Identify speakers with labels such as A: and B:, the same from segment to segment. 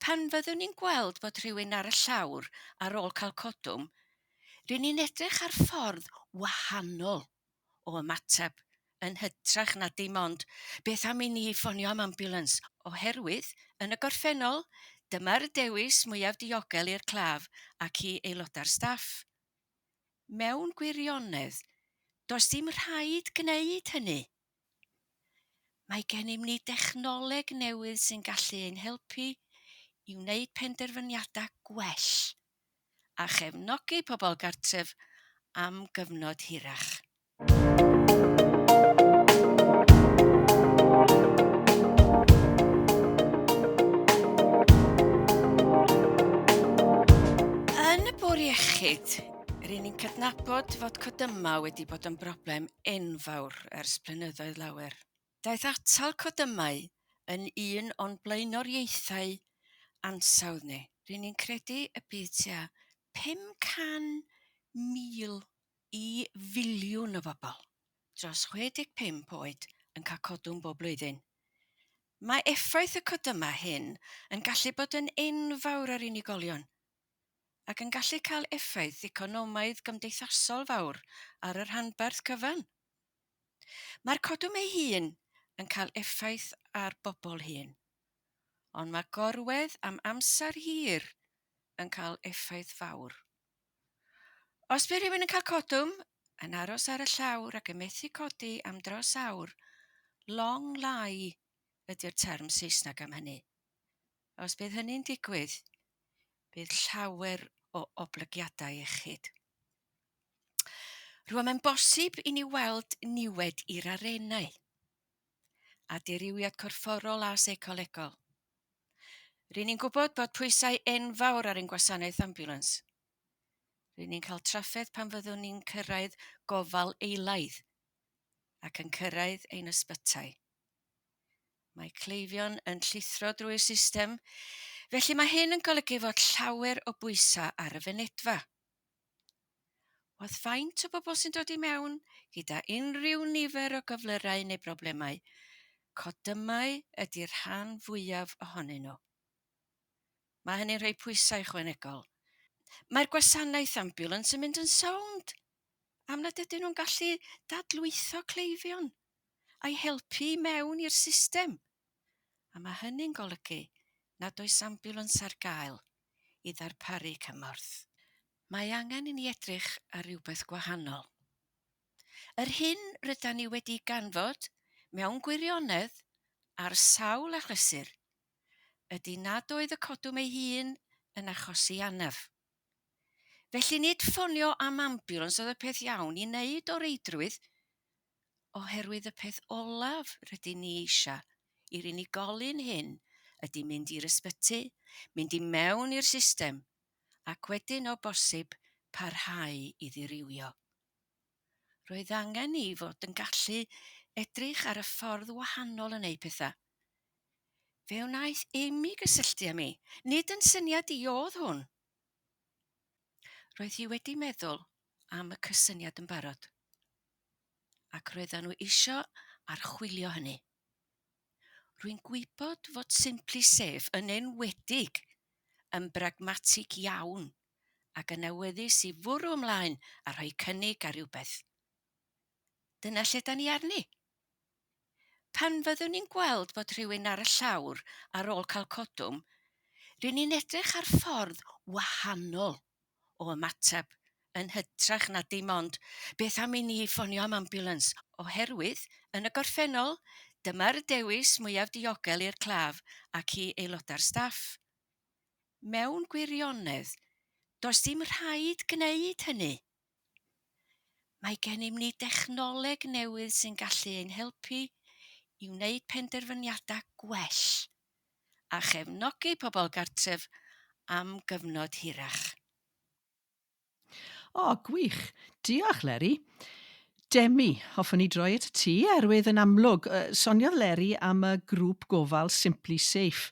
A: Pan fyddwn ni'n gweld bod rhywun ar y llawr ar ôl cael codwm, ry'n ni'n edrych ar ffordd wahanol o ymateb, yn hytrach na dim ond 'beth am i ni ffonio am ambiwlans? oherwydd, yn y gorffennol, dyma'r dewis mwyaf diogel i'r claf ac i aelodau'r staff. Mewn gwirionedd, does dim rhaid gwneud hynny. Mae gennym ni dechnoleg newydd sy'n gallu ein helpu i wneud penderfyniadau gwell a chefnogi pobl gartref am gyfnod hirach. Yn y bwr iechyd, rydyn ni'n cydnabod fod codyma wedi bod yn broblem enfawr Ewrop ers blynyddoedd lawer. Daeth atal codymau yn un o'n blaenoriaethau ansawdd ni. Ry'n ni'n credu y bydd tua 500,000 i filiwn o bobl dros 65 oed yn cael codwm bob blwyddyn. Mae effaith y codymau hyn yn gallu bod yn enfawr ar unigolion, ac yn gallu cael effaith economaidd-gymdeithasol fawr ar y rhanbarth cyfan. Mae'r codwm ei hun yn cael effaith ar bobl hŷn, ond mae gorwedd am amser hir yn cael effaith fawr. Os bydd rhywun yn cael codwm, yn aros ar y llawr ac yn methu codi am dros awr, long lie ydy'r term Saesneg am hynny. A os bydd hynny'n digwydd, bydd llawer o oblygiadau iechyd. Rwy'n mae'n bosib i ni weld niwed i'r arenau, a dirywiad corfforol a seicolegol. Rydyn ni'n gwybod bod pwysau enfawr ar ein gwasanaeth ambulans. Rydyn ni'n cael trafferth pan fyddwn ni'n cyrraedd gofal eilaidd ac yn cyrraedd ein ysbytai. Mae cleifion yn llithro drwy'r system, felly mae hyn yn golygu fod llawer o bwysau ar y fynedfa. Oedd faint o bobl sy'n dod i mewn gyda unrhyw nifer o gyflyrau neu broblemau, codymau ydy'r rhan fwyaf ohonyn nhw. Mae hynny'n rhoi pwysau ychwanegol. Mae'r gwasanaeth ambiwlans yn mynd yn sownd am nad ydyn nhw'n gallu dadlwytho cleifion. a'i helpu i mewn i'r system, a mae hynny'n golygu nad oes ambiwlans ar gael i ddarparu cymorth. Mae angen i ni edrych ar rywbeth gwahanol. Yr hyn rydan ni wedi ganfod, mewn gwirionedd, ar sawl achlysur, ydy nad oedd y codwm ei hun yn achosi anaf. Felly nid ffonio am ambiwlans oedd y peth iawn i wneud o reidrwydd, oherwydd y peth olaf rydyn ni eisiau i'r unigolyn hyn ydy mynd i'r ysbyty, mynd i mewn i'r system ac wedyn o bosib parhau i ddirywio. Roedd angen i fod yn gallu edrych ar y ffordd wahanol yn eu pethau. Fe wnaeth Amy gysylltu â mi. Nid yn syniad i oedd hwn. Roedd hi wedi meddwl am y cysyniad yn barod. Ac roeddan nhw isio archwilio hynny. Rwy'n gwybod fod Simply Safe yn enwedig yn bragmatig iawn ac yn awyddus i fwrw ymlaen a rhoi cynnig ar rywbeth. Dyna lle da ni arni. Pan fyddwn ni'n gweld bod rhywun ar y llawr ar ôl cael codwm, ry'n ni'n edrych ar ffordd wahanol o ymateb yn hytrach na dim ond 'beth am i ni ffonio am ambiwlans? oherwydd, yn y gorffennol, dyma'r dewis mwyaf diogel i'r claf ac i aelodau'r staff. Mewn gwirionedd, does dim rhaid gwneud hynny. Mae gennym ni dechnoleg newydd sy'n gallu ein helpu i wneud penderfyniadau gwell a chefnogi pobl gartref am gyfnod hirach.
B: O, gwych! Diolch, Leri. Demi, hoffwn i droi at y ti, oherwydd yn amlwg, soniodd Leri am y grŵp gofal Simply Safe.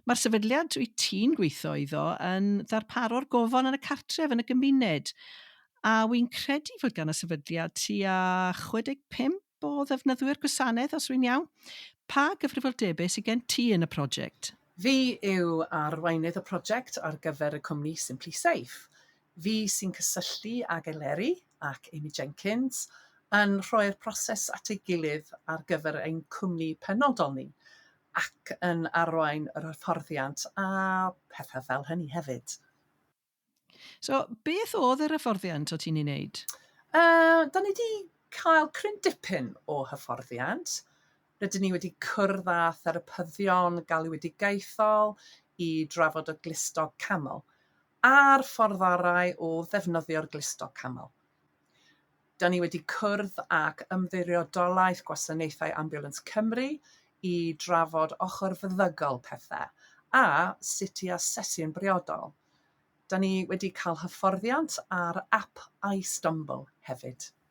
B: Mae'r sefydliad wyt ti'n gweithio iddo yn ddarparo'r gofal yn y cartref, yn y gymuned, a wy'n credu fod gan y sefydliad tua 65 o ddefnyddwyr gwasanaeth, os rwy'n iawn. Pa gyfrifoldebau sydd gen ti yn y prosiect? Fi
C: yw arweinydd y prosiect ar gyfer y cwmni Simply Safe. Fi sy'n cysylltu ag Eleri ac Amy Jenkins yn rhoi'r proses at ei gilydd ar gyfer ein cwmni penodol ni ac yn arwain yr hyfforddiant a pethau fel hynny hefyd.
B: So, beth oedd yr hyfforddiant o ti'n ei wneud? Yy, 'da ni
C: 'di cael cryn dipyn o hyfforddiant. Rydyn ni wedi cwrdd â therapyddion galwedigaethol i drafod y glustog camel a'r ffordd orau o ddefnyddio'r glustog camel. Da ni wedi cwrdd ac Ymddiriedolaeth Gwasanaethau Ambiwlans Cymru i drafod ochr feddygol pethau a sut i asesu yn briodol. Da ni wedi cael hyfforddiant ar ap iStumble hefyd.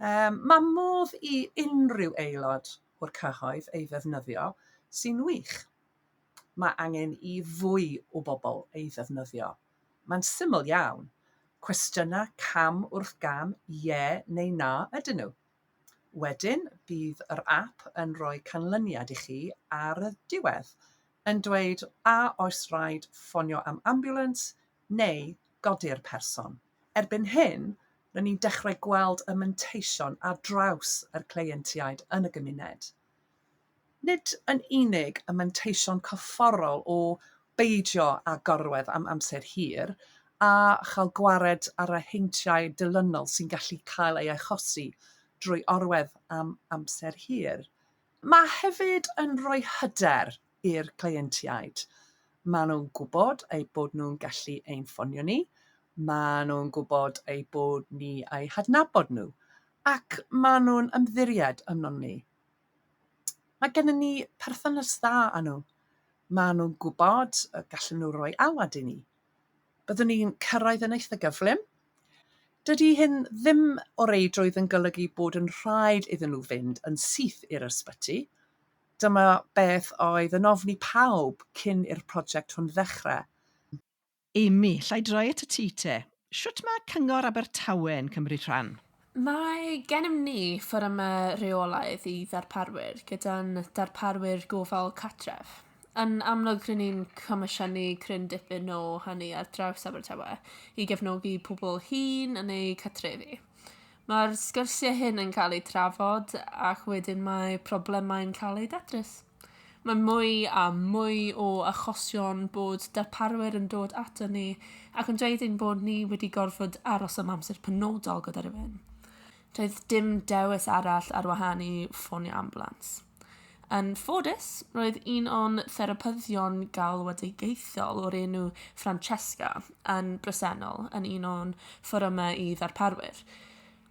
C: Yym, mae modd i unrhyw aelod o'r cyhoedd ei ddefnyddio, sy'n wych. Mae angen i fwy o bobl ei ddefnyddio. Mae'n syml iawn. Cwestiynau cam wrth gam, ie neu na ydyn nhw. Wedyn, bydd yr ap yn rhoi canlyniad i chi ar y diwedd, yn dweud a oes rhaid ffonio am ambiwlans neu godi'r person. Erbyn hyn, Ry'n ni'n dechrau gweld y manteision ar draws yr cleientiaid yn y gymuned. Nid yn unig y manteision corfforol o beidio â gorwedd am amser hir a chael gwared ar y heintiau dilynol sy'n gallu cael ei achosi drwy orwedd am amser hir, mae hefyd yn rhoi hyder i'r cleientiaid. Maen nhw'n gwybod eu bod nhw'n gallu ein ffonio ni, maen nhw'n gwybod eu bod ni eu hadnabod nhw, ac maen nhw'n ymddiried ynom ni. Mae gennym ni perthynas dda â nhw. Maen nhw'n gwybod y gallen nhw roi alwad i ni. Byddwn ni'n cyrraedd yn eitha gyflym. Dydy hyn ddim o reidrwydd yn golygu bod yn rhaid iddyn nhw fynd yn syth i'r ysbyty, Dyma beth oedd yn ofn i pawb cyn i'r project hwn ddechrau. Amy,
B: llai droi at y ti te. Shwt mae Cyngor Abertawe yn cymryd rhan? Mae
D: gennym ni fforymau rheolaidd i ddarparwyr gyda'n darparwyr gofal cartref. Yn amlwg rŷn ni'n comisiynu cryn dipyn o hynny ar draws Abertawe i gefnogi pobl hŷn yn eu cartrefi. Mae'r sgyrsiau hyn yn cael eu trafod ac wedyn mae problemau'n cael eu datrys. Mae mwy a mwy o achosion bod darparwyr yn dod ato ni ac yn dweud ein bod ni wedi gorfod aros am amser penodol gyda rhywun. Doedd dim dewis arall ar wahân i ffonio ambulans. Yn ffodus, roedd un o'n therapyddion galwedigaethol o'r enw Francesca yn bresennol yn un o'n fforymau i ddarparwyr.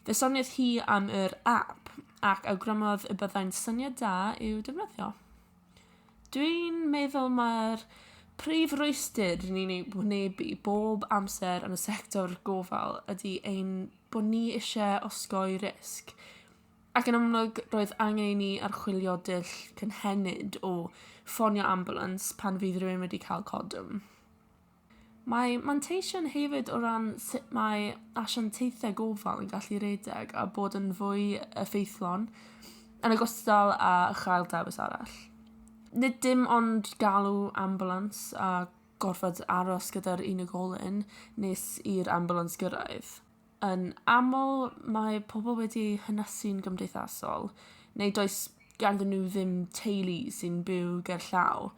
D: Fe soniodd hi am yr app ac awgrymodd y byddai'n syniad da i'w defnyddio. Dwi'n meddwl mae'r prif rwystyr i ni'n ei wynebu bob amser yn y sector gofal ydy ein bod ni eisiau osgoi risg. Ac yn amlwg roedd angen i ni archwilio dull cynhenid o ffonio ambulans pan fydd rhywun wedi cael codwm. Mae manteision hefyd o ran sut mae asiantaethau gofal yn gallu redeg a bod yn fwy effeithlon yn ogystal â chael dewis arall. Nid dim ond galw ambulans a gorfod aros gyda'r unigolyn nes i'r ambulans gyrraedd. Yn aml mae pobl wedi eu hynysu'n gymdeithasol, neu does ganddyn nhw ddim teulu sy'n byw ger llaw.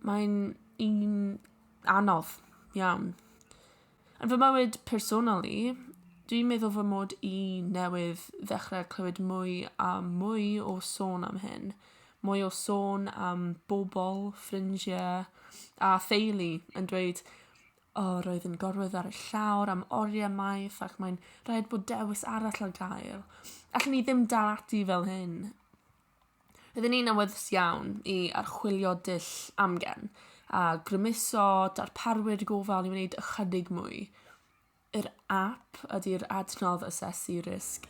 D: Mae'n un anodd iawn. Yn fy mywyd personol i, dwi'n meddwl fy mod i newydd ddechrau clywed mwy a mwy o sôn am hyn. Mwy o sôn am bobl, ffrindiau a theulu yn dweud O, roedd yn gorwedd ar y llawr am oriau maith ac mae'n rhaid bod dewis arall ar gael. Allen ni ddim dal ati fel hyn. Roedd yn un awyddus iawn i archwilio dull amgen a grymuso darparwyr gofal i wneud ychydig mwy. Yr app ydy'r adnodd asesu risg